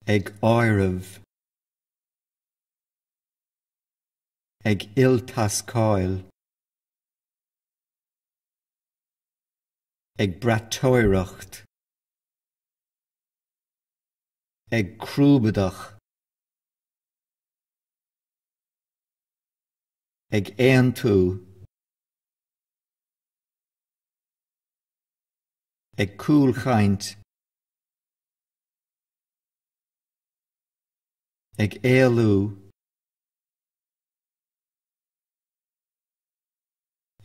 ag áireamh, ag iltascáil, ag braiteoireacht, ag crúbadach. ag aontú, ag cúlchaint, ag éalú,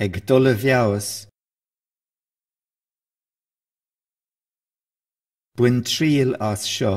ag dul i bhfeabhas, bain triail as seo,